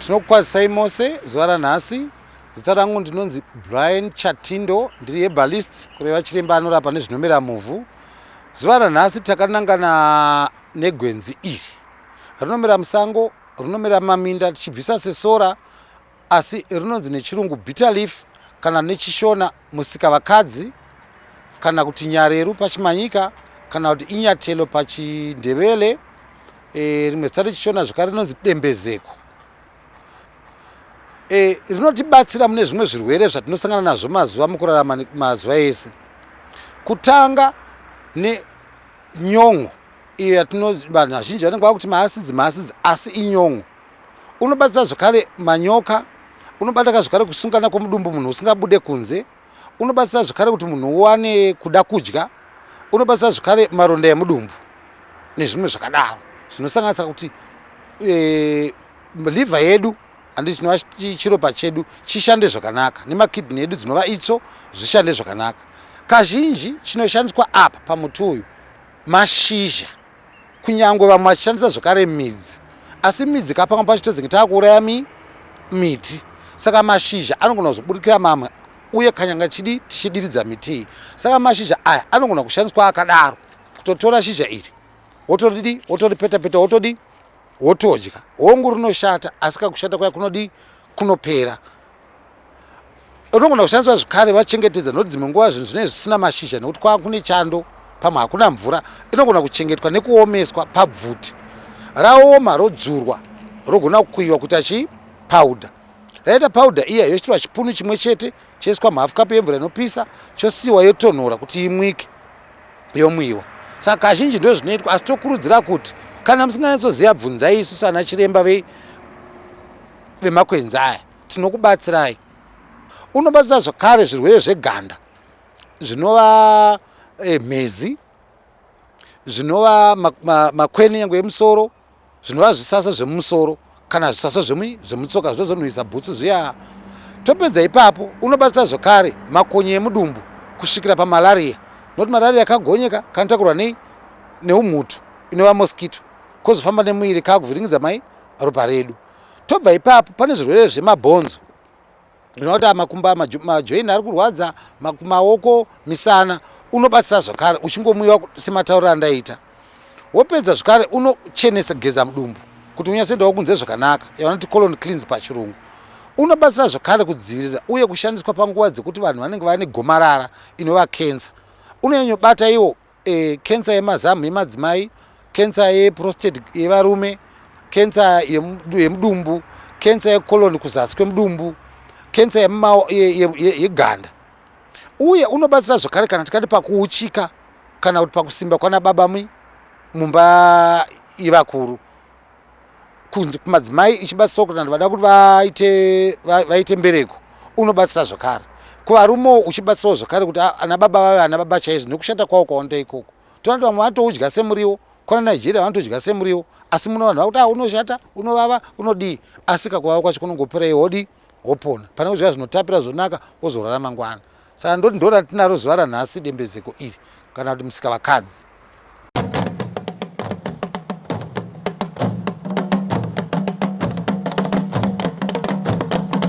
tinokukwazisai mose zuva ranhasi zita rangu ndinonzi brian chatindo ndiri hebalist kureva chiremba anorapa nezvinomera muvhu zuva ranhasi takanangana negwenzi iri rinomera musango rinomera maminda tichibvisa sesora asi rinonzi nechirungu bitter leaf kana nechishona musikavakadzi kana kuti nyareru pachimanyika kana kuti inyatelo pachindevele e, rimwe zita rechishona zvekare rinonzi dembezeko e, rinotibatsira mune zvimwe zvirwere zvatinosangana nazvo mazuva mukurarama mazuva ese kutanga nenyon'o iyo yatino vanhu vazhinji vanenge vakuti maasidzi maasidzi asi inyon'o unobatira zvakare manyoka unobataka zvakare kusungana kwomudumbu munhu usingabude kunze unobatsira zvakare kuti munhu uwane kuda kudya unobatsira zvakare maronda emudumbu nezvimwe zvakadaro zvinosanganisa kuti e, liver yedu andi chinova chiropa chedu chishande zvakanaka nemakidney edu dzinova itso zvishande zvakanaka kazhinji chinoshandiswa apa pamuti uyu mashizha kunyangwe vamwe vachishandisa zvekare midzi asi midzi ka pamwe pacho tozenge taakuuraya mi miti saka mashizha anogona kuzoburikira mamwe uye kanyanga chidi tichidiridza mitii saka mashizha aya anogona kushandiswa akadaro kutotora shizha iri wotodidi wotoripetapeta wotodi wotodya hongu rinoshata asi kakushata kwaya kunodi kunopera unogona kushandiswa zvekare vachengetedza nokuti dzimwe nguva zvinhu zvinenge zvisina mashizha nekuti kwava kune chando pamwe hakuna mvura inogona kuchengetwa nekuomeswa pabvuti raoma rodzurwa rogona kukuyiwa kuita chii powder raita powder iya yochitirwa chipunu chimwe chete choiswa muhalf cup yemvura inopisa chosiyiwa yotonhora kuti imwike yomwiwa saka kazhinji ndo zvinoitwa asi tokurudzira kuti kana musinganyatsoziva bvunzai isu sana chiremba vei vemakwenzi aya tinokubatsirai. Unobatsira zvakare zvirwere zveganda zvinova eh, mhezi zvinova makweni yangu yemusoro zvinova zvisasa zvemumusoro kana zvisasa zvemutsoka zvinozonhuhisa bhutsu zviya topedza ipapo unobatsira zvakare makonye emudumbu kusvikira pamalariya nokuti malariya kagonyeka kanotakurwa nei neumhutu inova moskito kozofamba nemuviri kakuvhiringidza mai ropa redu Tobva ipapo pane zvirwere zvemabhonzo zvinoita makumba majoini ari kurwadza maoko misana unobatsira zvakare uchingomwiwa sematauriro andaita wopedza zvakare unochenesa geza mudumbu kuti unyatsoendawo kunze zvakanaka yavanoti colon cleans pachirungu unobatsira zvakare kudzivirira uye kushandiswa panguva dzekuti vanhu vanenge vane gomarara inova kensa unonyanyobata iwo E, kensa yemazamu yemadzimai, kensa yeprostate yevarume, kensa yemudumbu, kensa yecolon kuzasi kwemudumbu, kensa yeganda. Uye unobatsira zvakare kana tikati pakuuchika kana kuti pakusimba kwana baba mumba ivakuru. kunzi kumadzimai ichibatsirwa kuti vanhu vada kuti vaite mbereko unobatsira zvakare kuvarumewo uchibatsirawo zvakare kuti ana baba vave ana baba chaizvo nekushata kwavo kwaonda ikoko tonati vamwe vanotoudya semuriwo kwana nigeria vanotodya semuriwo asi muno vanhu vakuti ah, unoshata unovava unodii asi kakuvava kwacho kunongopera ihodii wopona pane kudya zvinotapira zvonaka wozorara mangwana saka ndoti ndoda tinaro zuva ranhasi dembezeko iri kana kuti musika vakadzi